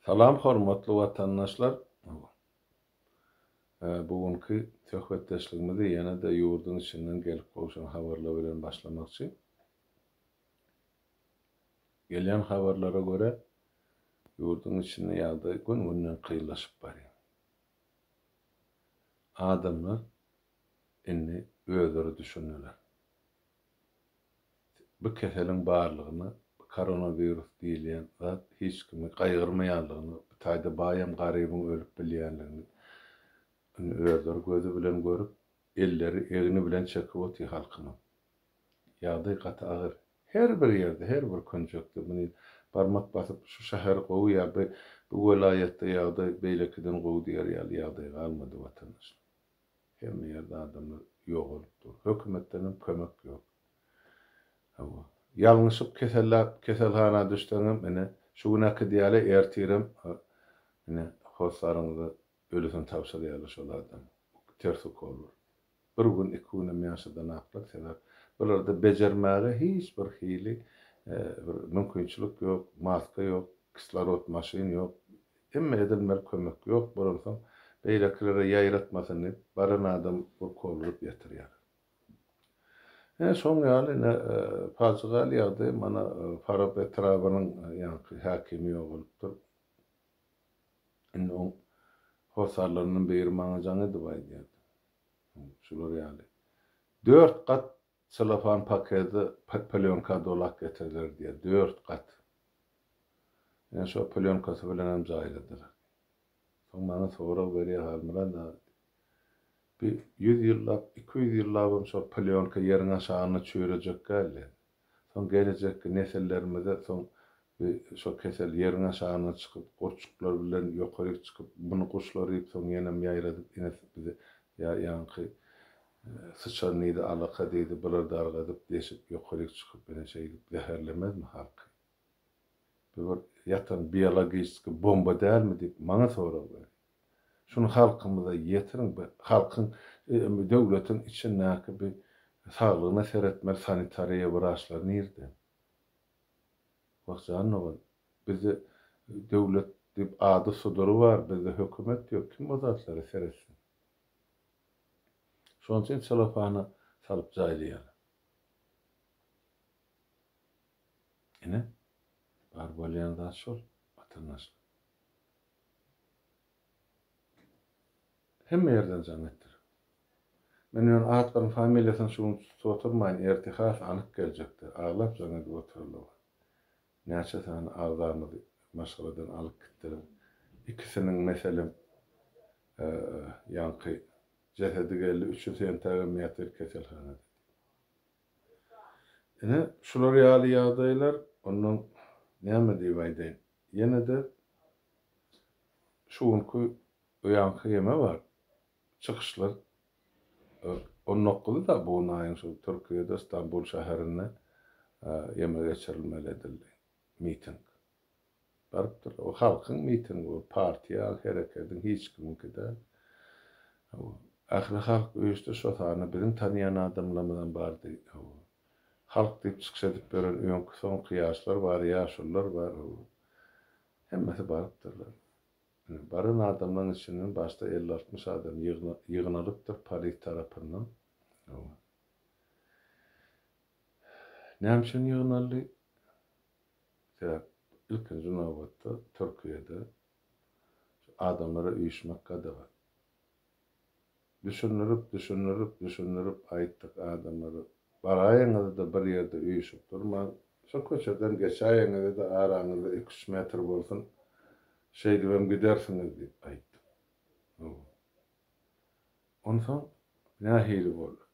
Salam hormatly watandaşlar! Bu günki söhbetdeşligimizi ýene-de ýurduň içinden gelip gowşan habarlar bilen başlamakçy. Gelýän habarlara görä, ýurduň içinde ýagdaý gün-günden kynlaşyp barýar. Adamlar indi özleri düşündiler. Bu keseliň barlygyny, bu koronawirus diýilýän zat hiç kimi gaýgyrmaýanlygyny, bu taýda baýam garybyň ölüp bilýänligini indi özleri gözi bilen görüp, elleri, egni bilen çekip otyr halkymyz. Ýagdaý gaty agyr. Her bir ýerde, her bir künjekde muny barmak basyp şu şäher gowy ýa bu welaýatda ýagdaý beýlekiden gowy diýer ýaly ýagdaý galmady watandaşlar. Hemme ýerde adamlar ýogalyp dur. Hökümetdenem kömek ýok. Hawa. Ýalňyşyp kesellap keselhana düşseňem, ine, şu günäki diýeli, ertirem, ine, hossaryňyza ölüsini tabşyrýarlar şol adam. Ters ukollar. Bir gün, iki günem ýaşadanaklar, sebäp bularda bejermäge hiç bir hili bir mümkinçilik ýok, maska ýok, kislorod maşyn ýok, Hemmä edilmeli kömek ýok bolansoň beýlekilere ýaýratmasyn diýip baran adam urkawladyp ýatyrýar. Ine şoň ýaly ine pajygaly ýagdaý mana Farap etrabynyň ýaňky häkimi ýogalypdyr. Indi oň hossarlaryndan biri maňa jaň edip aýdýardy. Şular ýaly. Dört gat Selofan paketi plýonka dolap getiriler diýýär, dört gat. Men şo plýonkasy bilenem jaýladylar. Soň maňa sorag berýär, Halmyrat aga, bi ýüz ýyllap, iki ýüz ýyllabam şo plýonka ýeriň aşagynda çüýrejek däldi. Soň gelejekki nesillerimize soň bi şo kesel ýeriň aşagyndan çykyp, gurçuklar bilen ýokaryk çykyp, muny guşlar iýip, soň ýenem ýaýradyp, ine bize ýa ýaňky Syçan diýdi, alaka diýdi, bular dargadyp, deşip, ýokaryk çykyp, ine şeýdip zäherlemezmi halky? Bu bir ýatan biologiçeskiý bomba dälmi diýip, maňa sorag berin. Şuny halkymyza ýetiriň, bu halkyň, bu döwletiň içindäki bu saglygyna seretmeli sanitariýa wraçlar nirde? Wah jan dogan, bizde döwlet diýip ady-sudury bar, bizde hökümet ýok, kim o zatlary seretsin? Şonuň üçin selofana salyp jaýlaýarlar. Ine, bar bolýan zat şol, watandaşlar. Hemme ýerden jaň etdirip. Men ýöne atlaryň familiýasyny şu gün tutup oturmaýyn, ertir has anyk geljekdir. Aglap jaň edip oturarlar. Näçe sany agzamyz maşgaladan alyp gitdiler. Ikisiniň, meselem, ýaňky jesedi geldi, üçi Sentagem ýatyr keselhanada diýdi. Ine, şular ýaly ýagdaýlar, ondan näme diýip aýdaýyn. Ýene-de şu günki bu ýaňky geme bar. çykyşlar on dokuzy-da bu aýyň şu Türkiýede Stambul şäherinde ýeme geçirilmeli edildi. Miting. Barypdyr. O halkyň mitingi bu, partiýa, herekediň hiç kimiňki däl. Hawa. Ähli halk öýüşdi, şo sanda biziň tanýan adamlarymyzam bardy. Hawa. Halk diýip çykyş edip ýören öňki-soňky ýaşlar bar, ýaşulylar bar. Hawa. Hemmesi barypdyrlar. Baran adamlaryň içinden başda elli-altmyş adam ýygnalypdyr polis tarapyndan. Näme üçin ýygnaldy? Sebäp ilkinji nobatda Türkiýede şu adamlara üýşmek gadagan. Düşündirip düşündirip düşündirip aýtdyk adamlara baraýyňyzda bir ýerde üýşüp durmaň şo köçeden geçäýiňizde araňyzda iki üç metr bolsun şeýdibem gidersiňiz diýip aýtdyk howa onsoň nähili boldy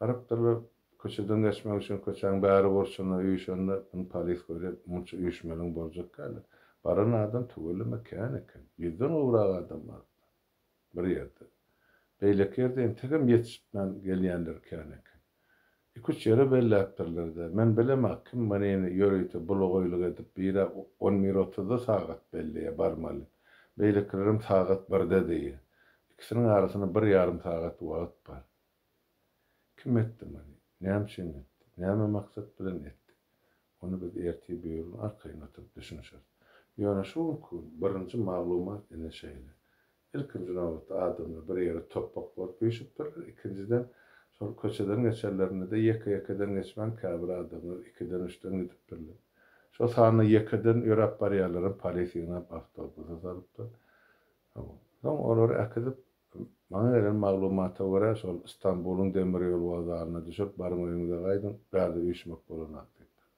Barypdyrlar. Köçeden geçmek üçin köçäň bäri burçunda üýşende, muny polis görýär, munça üýşmeliň boljak kän-ä. Baran adam tüweleme kän eken. Ýüzden gowrak adam barypdyr. Bir ýerde. Beýleki ýerde entegem ýetişipmän gelýänler kän eken. Iki-üç ýere belläpdirler-dä. Men bilem-ä, kim munini ýörite bulugaýlyk edip bir-ä on bir otuzda sagat belleýär, barmaly. Beýlekilerem sagat birde diýýär. Ikisiniň arasynda bir ýarym sagat wagt bar. Kim etdi muny? Näme üçin etdi? Näme maksat bilen etdi? Ony biz ertir birigün arkaýyn oturyp düşünişeris. Ýöne şu günki gün birinji maglumat ine şeýle. Ilkinji nobatda adamlar bir ýere topbak bolup üýşüpdirler, ikinjiden, şol köçeden geçenlerinde-de ýeke-ýekeden geçmän käbir adamlar ikiden-üçden gidipdirler. Şo sanda ýekeden ýöräp barýanlaram polis ýygnap awtobusa salypdyr. Soň olary äkidip, maňa gelen maglumata görä, şol Stambulyň demir ýol wokzalyna düşüp, baryň öýüňize gaýdyň, bärde üýşmek bolanok diýipdir.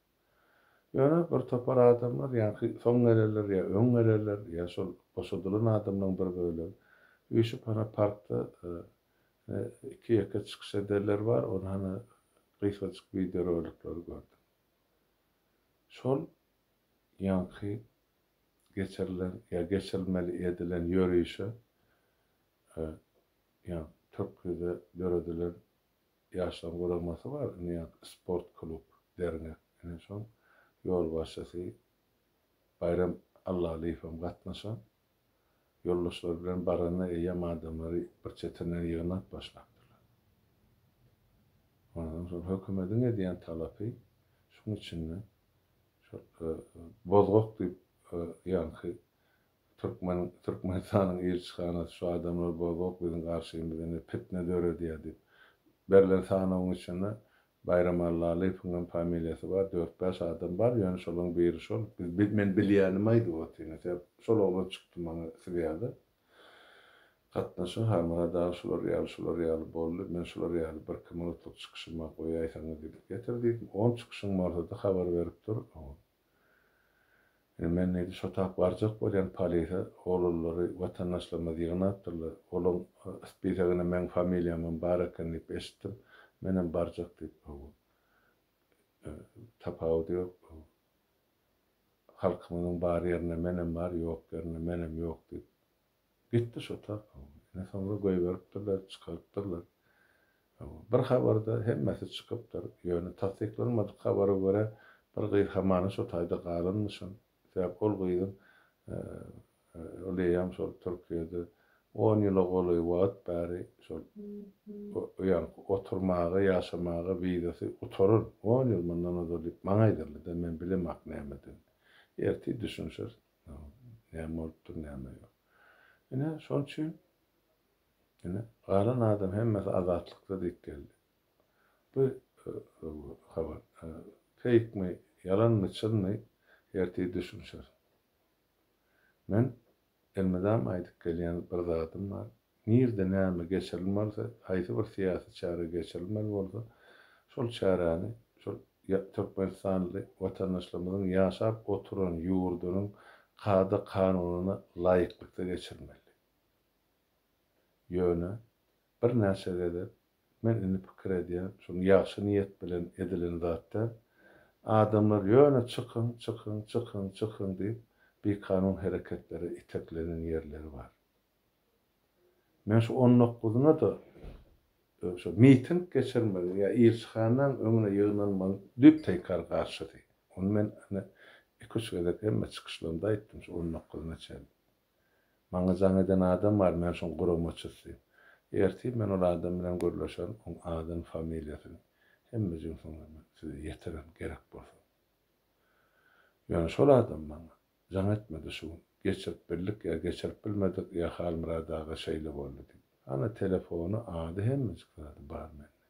Ýöne bir topar adamlar, ýaňky soň gelenler ýa öň gelenler, ýa şol boşadylan adamlaryň bir bölegi üýşüp, hana parkda iki-ýeke çykyş edenler bar, ony hana gysgajyk wideorolikleri gördüm. Şol ýaňky geçirilen ýa geçirilmeli edilen ýörişe ýa-da Türkiýede döredilen ýaşlaryň guramasy bar, indi ýa-da sport klub, dernek, ine şoň ýolbaşçysy Baýram Allalyýewem gatnaşan, Ýoldaşlary bilen baranda eýýäm adamlary bir çetinden ýygnap başlapdyrlar. Ondan soň hökümediň edýän talapy şuň içinde şol bozgak diýip ýaňky türkmen Türkmenistanyň ilçihanasy şu adamlar bozgak biziň garşymyzda indi pitne döredýär diýip berlen sanawyň içinde Baýramallalyýewiňem familiýasy bar, dört-bäş adam bar, ýöne şolaň biri şol. Biz, men bilýänim aýdyp otyny, sebäp şol oglan çykdy maňa siz ýaly. Gatnaşyň ha Myrat aga şular ýaly, şular ýaly boldy, men şular ýaly birki minutlyk çykyşym bar goýaýsaňyz diýip getir diýdim. On çykyşyň bolsady habar berip dur. Indi men neýdi, şo tap barjak bolýan polise, olalary watandaşlarymyz ýygnapdyrlar. Olaň spisagynda meň familiýamam bar eken diýip eşitdim. Menem barjak diýip, hawa. Tapawudy ýok. Halkymyzyň bar ýerinde menem bar, ýok ýerinde menem ýok diýip, Gitdi şo tap, hawa. Ine soňra goýberipdirler, çykarypdyrlar. Hawa, bir habarda hemmesi çykypdyr. Ýöne tassyklanmadyk habara görä, bir gyz hamana şo taýda galanmyşyn. Sebäp ol gyzyň ol eýýäm şol Türkiýede on ýyla golaý wagt bäri şol ýaňky oturmaga, ýaşamaga wizasy gutaran, on ýyl mundan ozal diýip maňa aýdyldy-da, men bilemok nämeden. Ertir düşünişeris. Näme bolupdyr, näme ýok. Ine, şonuň üçin ine, galan adam hemmesi azatlykda diýip geldi. Bu habar feýkmi, ýalanmy, çynmy, ertir düşünişeris. Men elmydam aýdyp gelýän bir zadym bar, Nirde näme geçirilmelse, haýsy bir syýasy çäre geçirilmeli bolsa, şol çäräni şol türkmenistanly watandaşlarymyzyň ýaşap oturan ýurdunyň kada-kanunyna laýyklykda geçirmeli. Ýöne birnäçe gezek men indi pikir edýän, şuny ýagşy niýet bilen edilen zat däl. Adamlar ýöne çykyň, çykyň, çykyň, çykyň diýip, bikanun hereketlere iteklenen ýerleri bar. Men şu on dokuzuna-da şo miting geçirmegiň ýa ilçihanaň öňüne ýygnanmagyň düýpteýkar garşysy. Ony men ine iki-üç gezek hemme çykyşlarymda aýtdym şu on dokuzuna çenli. Maňa jaň eden adam bar, men şoň guramaçysy. Ertir men ol adam bilen gürleşerin, oň adyny, familiýasyny, hemme jünsüňi men size ýetirerin gerek bolsa. Ýöne şol adam maňa Jaň etmedi şu gün. Geçirip bildik ýa geçirip bilmedik ýa Halmyrat aga şeýle boldy diýip. Ana telefony ady hemmejik zady bar mende.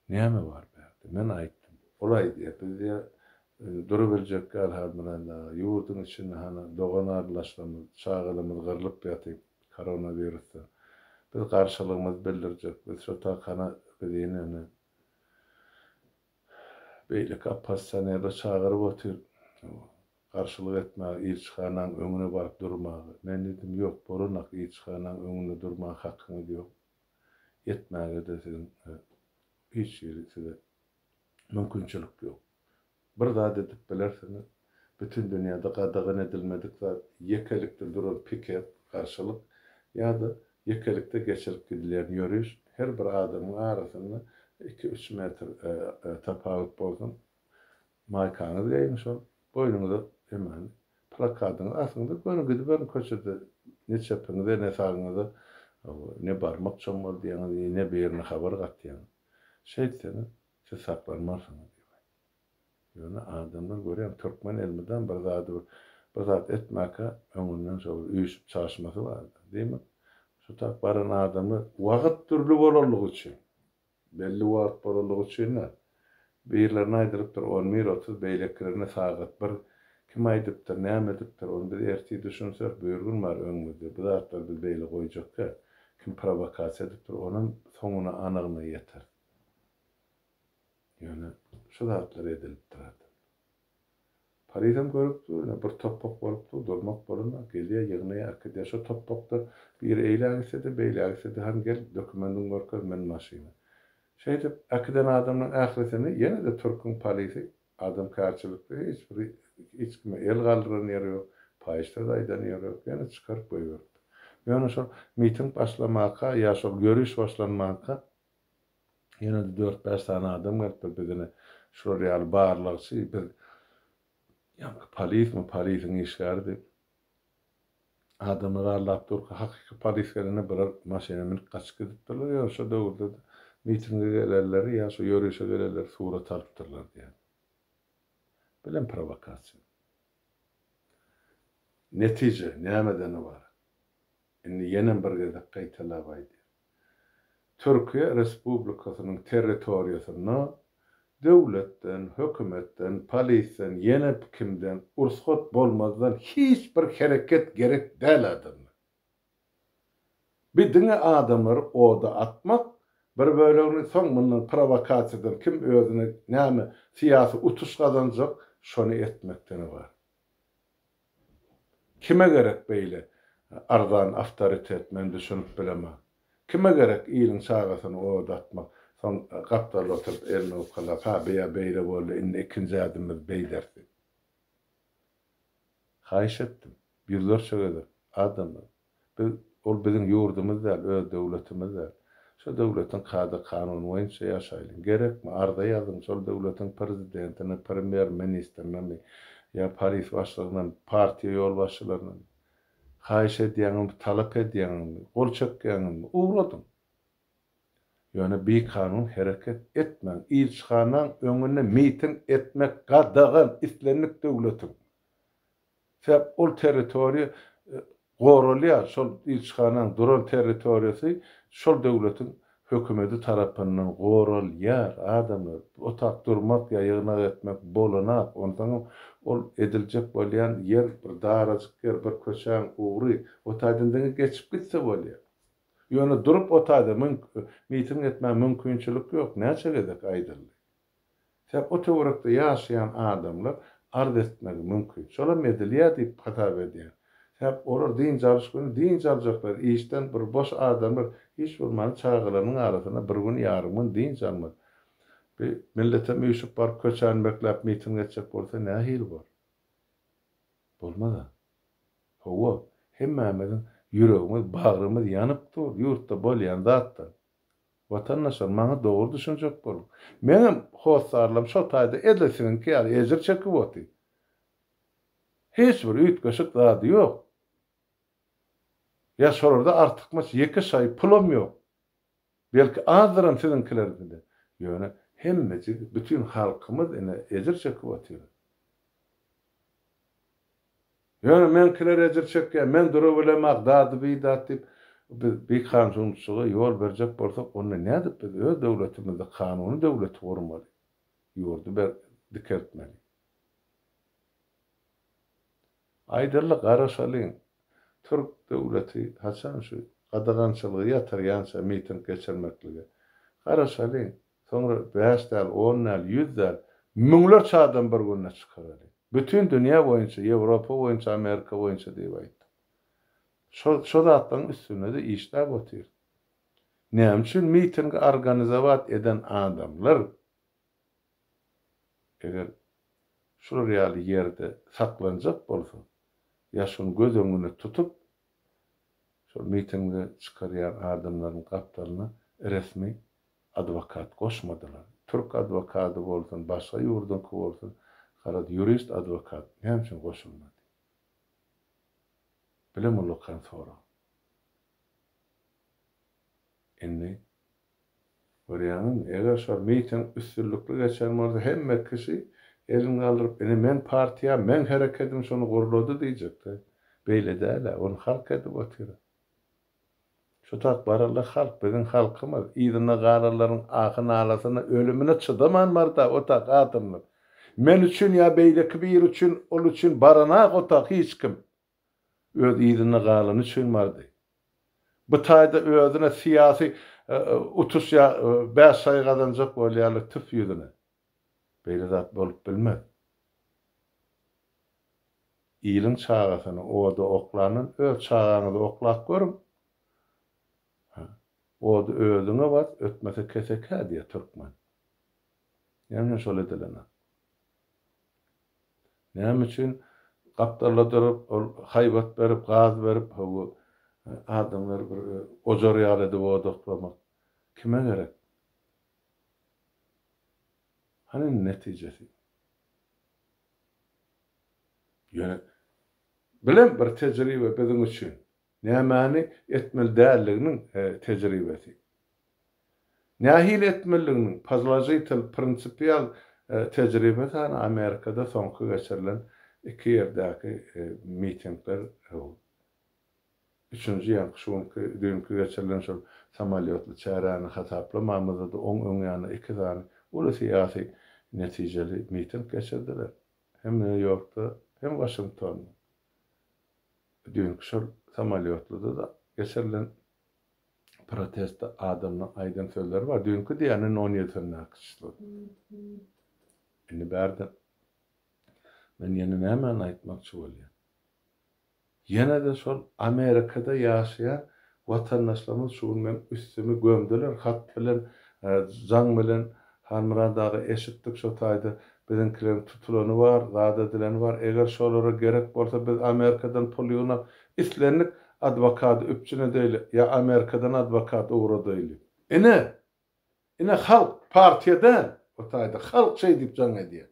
Näme bar bärde? Men aýtdym. Ol aýdýar, biz diýýär, durubiljek ýaly Halmyrat aga, ýurduň içinde hany dogan-arlaşlamyz, çagalamyz gyrlyp ýatyp, koronawirusdan. Biz garşylygymyzy bildirjek, biz şu takana biz ine indi Beýleki oppozisionerler çagyryp otyr, garşylyk etmäge, ilçihanaň öňüne baryp durmaga. Men diýdim, ýok, bolanok, ilçihanaň öňünde durmaga hakyňyz ýok. Etmäge-de siziň hiç hili size mümkinçilik ýok. Bir zat edip bilersiňiz, Bütin dünýäde gadagan edilmedik zat ýekelikde duran piket, garşylyk, ýa-da ýekelikde geçirip gidilýän ýöriş, her bir adamyň arasynda iki-üç metr tapawut bolsun, maýkaňyzy geýiň şol, boýnuňyza hemen plakadyňyzy asyňda göni gidiberiň köçede, ne çepiňize, ne sagyňyza ne barmak çommaldaýaňyz, ne birine habar gatýaňyz. Şeýtseňiz, siz saklanmarsyňyz diýip aýtdy. Ýöne adamlar görýän türkmen elmydam bir zady bir bir zat etmäkä öňünden şo bir üýşüp çaşmasy barda. Diýmek şo tap baran adamlar wagyt dürli bolanlygy üçin belli wagyt bolanlygy üçin-ä birlerine aýdylypdyr on bir otuz beýlekirine sagat bir kim aýdypdyr näme edipdir ony biz ertir düşünsek bür gün bar öňümizde bu zatlary biz beýle goýjakka kim prowokasiýa edipdir onam soňuna anygyna ýeteris. Ýöne şu zatlar edilip durardy. Parizem görüp dur, ine, bir topbak bolup dur, durmak bolana, gelýär, ýygnaýar, äkidýär. Şo topbakda biri eýlä gitse-de, beýlä gitse-de, Hany, gel, dokumendiňi görkez, min maşyna. Şeýdip, äkiden adamlaryň ählisini ýene-de türküň polisi, adamkärçilikde hiç bir hiç kime el galdyran ýeri ýok, paýyş söz aýdan ýeri ýok, ýene çykaryp goýberipdir. Ýöne şol miting başlamaka ýa şol ýöriş başlanmanka Ýene-de dört-bäş sany adam gelipdir. Biz ine, şular ýaly barlagçy, biz ýaňky polismi, polisiň işgäri diýip, adamlary aldap durka, hakyky polis gelende bular maşyna münüp gaçyp gidipdirler. Ýöne şo döwürde-de mitinge gelenleri ýa şu ýörişe gelenleri surat alypdyrlar diýýär. Bilem prowokasiýa. Netije nämeden ybarat? Indi ýenem bir gezek gaýtalap aýdýan. Türkiýe Respublikasynyň territoriýasynda döwletden, hökümetden, polisden, ýene kimden ursgat bolmazdan hiç bir hereket gerek däl adamlar. Bi diňe adamlary oda atmak, bir bölegini soň mundan prowokasiýadan kim özüne näme syýasy utuş gazanjak şony etmekden ybarat. Kime gerek beýle arzan awtoritet men düşünip bilemok. Kime gerek iliň çagasyny oda atmak, soň gapdalda oturyp elini owkalap ha bya beýle boldy indi ikinji ädimimiz beýlersi. Haýyş etdim ýüzlerçe gezek adamdan. Biz, ol biziň ýurdumyz däl, öz döwletimiz däl. Şo döwletiň kada-kanuny boýunça ýaşaýlyň. Gerekmi, arza ýazyň, şol döwletiň prezidentine, premýer-ministrinemi ýa polis başlygynyňmy, partiýa ýolbaşçylarynyňmy? Haýyş edýäňmi, talap edýäňmi, gol çekýäňmi, ugradyň. Ýöne bikanun hereket etmäň. Ilçihanaň öňünde miting etmek gadagan, islendik döwletiň Sebäp ol territoriýa goralýar, şol ilçihananyň duran territoriýasy şol döwletiň hökümedi tarapyndan goralýar, adamlar, otag durmak ýa ýygnak etmek bolanak, onsoňam ol ediljek bolýan ýer bir darajyk ýer, bir köçäň ugry, o taýdan diňe geçip gitse bolýar. Ýöne durup o taýda miting etmäge mümkinçilik ýok, näçe gezek aýdyldy. Sen o töwerekde ýaşaýan adamlar arz etmegi mümkin. Şolam edilýär diýip hasap edýän. Sebäp olar dynç alyş güni dynç aljaklar, işden bir boş adamlar hiç bolmanda çagalarynyň arasynda bir gün ýarym gün dynç almaz. Bi milletem üýşüp baryp köçäni bekläp miting etjek bolsa nähili bor? Bolmaz-a. Hawa, hemmämiziň ýüregimiz, bagrymyz ýanyp dur, ýurtda bolýan zatdan. Watandaşlar maňa dogry düşünjek boluň. Meňem hossarlarym şol taýda edil siziňki ýaly ejir çekip oty. Hiç bir üýtgeşik zady ýok. Ýa şolarda artykmaç ýeke şaýy pulam ýok. Belki azdyram siziňkilerdede. Ýöne hemmejigi bütin halkymyz ine ejir çekip otyrys. Ýöne meňkiler ejir çekýär, men durabilemok, dady-bidat diýip, biz bikanunçylyga ýol berjek bolsak, onda nädip biz öz döwletimizde kanuny döwleti gurmaly, ýurdy ber dikeltmeli? Aýdaly garaşalyň, türk döwleti haçan şu gadagançylygy ýatyrýança miting geçirmeklige? Garaşalyň, Soňra bäş däl, on däl, ýüz däl, müňlerçe adam bir günde çykaraly. Bütin dünýä boýunça, Ýewropa boýunça, Amerika boýunça diýip aýtdy. Şo, şo zatlaryň üstünde-de işläp otyr. Näme üçin mitingi organizowat eden adamlar, eger şular ýaly ýerde saklanjak bolsa, ýaşuny göz öňüne tutup, şol mitingi çykarýan adamlaryň gapdalyna resmi adwokat goşmadylar. Türk adwokady bolsun, başga ýurduňky bolsun, garaz, ýurist adwokat näme üçin goşulmady? Bile mullakan sorag. Indi, görýäňizmi, eger şol miting üstünlikli geçen bolsa, hemme kişi elini galdyryp, ine, meň partiýam, meň herekedim şuny gurlady diýjek-de. Beýle däl-ä, ony halk edip otyr. Şu tat baryldy halk biziň halkymyz yzynda galanlaryň ahy nalasyna ölümine çydaman barda otag adamlar men üçin ýa beýleki biri üçin ol üçin baranak otag hiç kim öz yzynda galany üçin bardy bu taýda özüne syýasy utuş ýa bäş saýy gazanjak bolýarlar tüf ýüzüne. Beýle zat bolup bilmez. Iliň çagasyny oda oklandan öz çagaňyzy oklap görüň. Ha, ody özüňe bas, ötmese kesekä diýýär türkmen. Näme üçin şol edilenok? Näme üçin gapdalladyryp, ol haýbat berip, gaz berip, hawa, adamlary bir ojar ýaly edip oda oklamak kime gerek? Hany netijesi? Ýöne bilen bir tejribe biziň üçin, nämäni etmeli däldiginiň tejribesi. Nähili etmelidiginiň pozložitel, prinsipial tejribesi hany Amerikada soňky geçirilen iki ýerdäki mitingler? Üçünji ýaňky şu günki, düýnki geçirilen şol samolýotly çäräni hasaplamamyzda-da oň öň ýanyna iki sany uly syýasy netijeli miting geçirdiler. Hem Nýu-Ýorkda, hem Waşingtonda. Düýnki şol samolýotlyda-da geçirilen protestde adamlaň aýdan sözleri bar. Düýnki diýýän on ýedisindäki çyslo. Indi bärde men ýene nämäni aýtmakçy bolýan? Ýene-de şol Amerikada ýaşaýan watandaşlarymyz şu gün meň üstümi gömdüler hat bilen, jaň bilen, Halmyrat aga eşitdik şo taýda biziňkileriň tutulany bar, zat edileni bar, eger şolara gerek bolsa biz Amerikadan pul ýygnap islendik adwokady üpjün edeýli ýa Amerikadan adwokat ugradaýly. Ine, Ine halk partiýa däl bu taýda halk şeý diýip jaň edýä.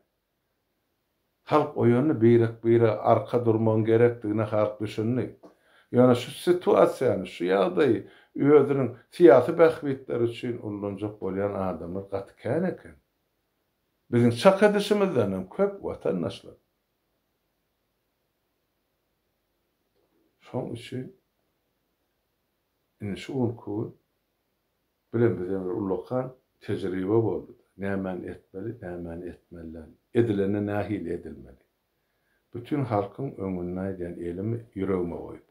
Halk oýandy birek bire arka durmagyň gerekdigine halk düşündi. Ýöne şu situasiýany şu ýagdaýy özüniň syýasy bähbitleri üçin ullanjak bolýan adamlar gaty kän eken. Biziň çak edişimizden hem köp watandaşlar. Şoň üçin indi şu günki gün Bilen bize bir ullakan tejribe boldy-da, nämäni etmeli, nämäni etmelidigini, edilende nähili edilmeli. Bütin halkyň öňünde aýdýan elimi ýüregime goýup.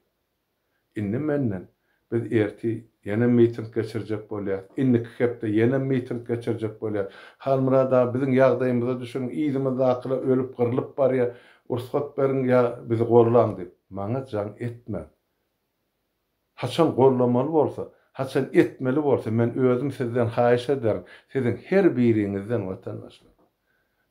Indi menden, Biz ertir ýene miting geçirjek bolýarys, indiki hepde ýene miting geçirjek bolýarys. Halmyrat aga, biziň ýagdaýymyza düşüniň, yzymyzdakylar ölüp-gyrlyp barýar, rugsat beriň ýa bizi gollaň diýip, maňa jaň etmäň. Haçan gollamaly bolsa, haçan etmeli bolsa men özüm sizden haýyş ederin, siziň her biriňizden watandaşlar.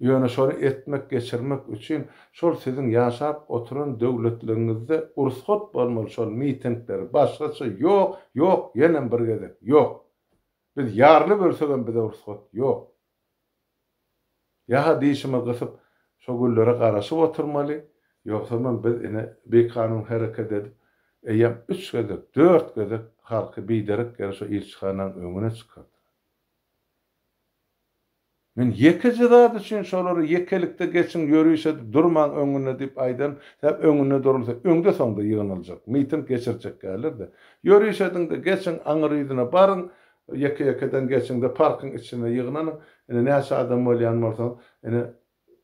Ýöne şony etmek, geçirmek üçin şol siziň ýaşap oturan döwletligiňizde urusgat bolmaly şol mitingleri başgaça ýok, ýok, ýenem bir gezek ýok. Biz ýarly bölsegem bize urusgat ýok. Ýa-ha dişimi gysyp, şo güllere garaşyp oturmaly, ýogsamam biz ine, bikanun hereket edip, eýýäm üç gezek, dört gezek halky biderek ýere şo ilçihananyň öňüne çykardylar. Men ýekeje zat üçin şolara ýekelikde geçiň, ýöriş edip durmaň öňüne diýip aýdan, sebäbi öňüne durulsa, öňde-soňda ýygnaljak, miting geçirjekgärler-de. Ýöriş ediň-de, geçiň, aňyr ýüzüne baryň, Ýeke-ýekeden geçiň-de parkyň içine ýygnanyň. Ine, näçe adam bolýan bolsaňyz, ine,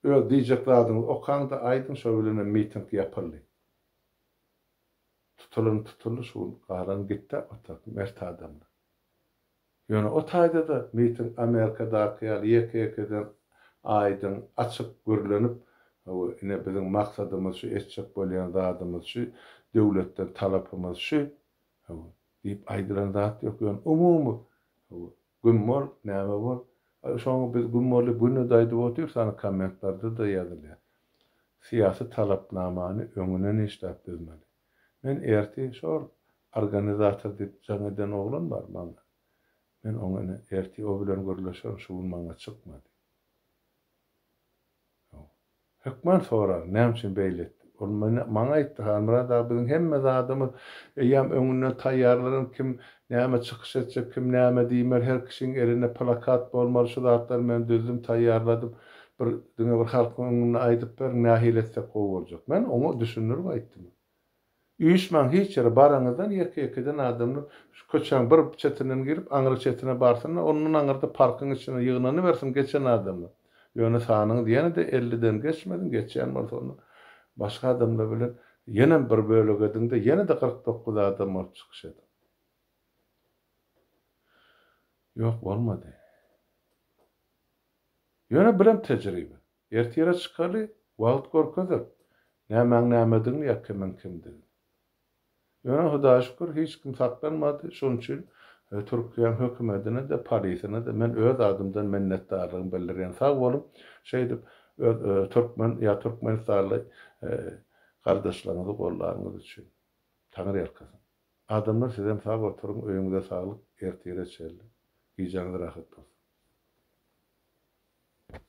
öz diýjek zadyňyzy okaň-da, aýdyň, şo bilenem miting ýapyldy. Tutulan tutuldy, şu gün galan git-de otur, mert adamlar. Ýöne o taýda-da miting Amerikadaky ýaly ýeke-ýekeden aýdyň, açyk gürlenip, Hawa, ine, biziň maksadymyz şu, etjek bolýan zadymyz şu, döwletden talapymyz şu. Hawa, Diýip aýdylan zat ýok, ýöne umumy güm bol, näme bol, şoňa biz güm boldy güni-de aýdyp otyrys, ana kommentlarda-da ýazylýar. Syýasy talapnamany öňünden işläp düzmeli. Men ertir şol organizator diýip jaň eden oglan bar maňa. Men oňa ine ertir o bilen gürleşerin, şu gün maňa çykmady. Hökman soraň, näme üçin beýle etdim? Ol maňa aýtdy, Halmyrat aga, biziň hemme zadymyz eýýäm öňünden taýýarlanan, kim näme çykyş etjek, kim näme diýmeli, her kişiň elinde plakat bolmaly, şu zatlary men düzdüm, taýýarladym, bir, diňe bir halkyň öňünde aýdyp beriň, nähili etsek gowy boljak? Men oňa düşündirip aýtdym. Üýşmäň hiç ýere, baranyňyzdan ýeke-ýekeden adamlar şu köçäň bir çetinden girip, aňry çetine barsyn-da, ondan aňyrda parkyň içine ýygnanybersin geçen adamlar. Ýöne sanyňyz ýene-de elliden geçmesin, geçýän bolsa onda başga adamlar bilen ýenem bir bölek ediň-de, ýene-de kyrk dokuz adam bolup çykyş ediň. Ýok, bolmady. Ýöne birem tejribe. Ertire çykaly, wagt görkezer, nämäň-nämedigini ýa kimiň kimdigini. Ýöne Hudaýa şükür, hiç kim saklanmady, şonuň üçin Türkiýäň hökümedine-de, polisine-de men öz adymdan minnetdarlygymy bildirýän. Sag boluň, şeýdip öz türkmen ýa türkmenistanly gardaşlaryňyzy goldanyňyz üçin. Taňyrýalkasyn. Adamlar sizem sag oturyň, öýüňize saglyk, ertire çenli. Gijäňiz rahat bolsun.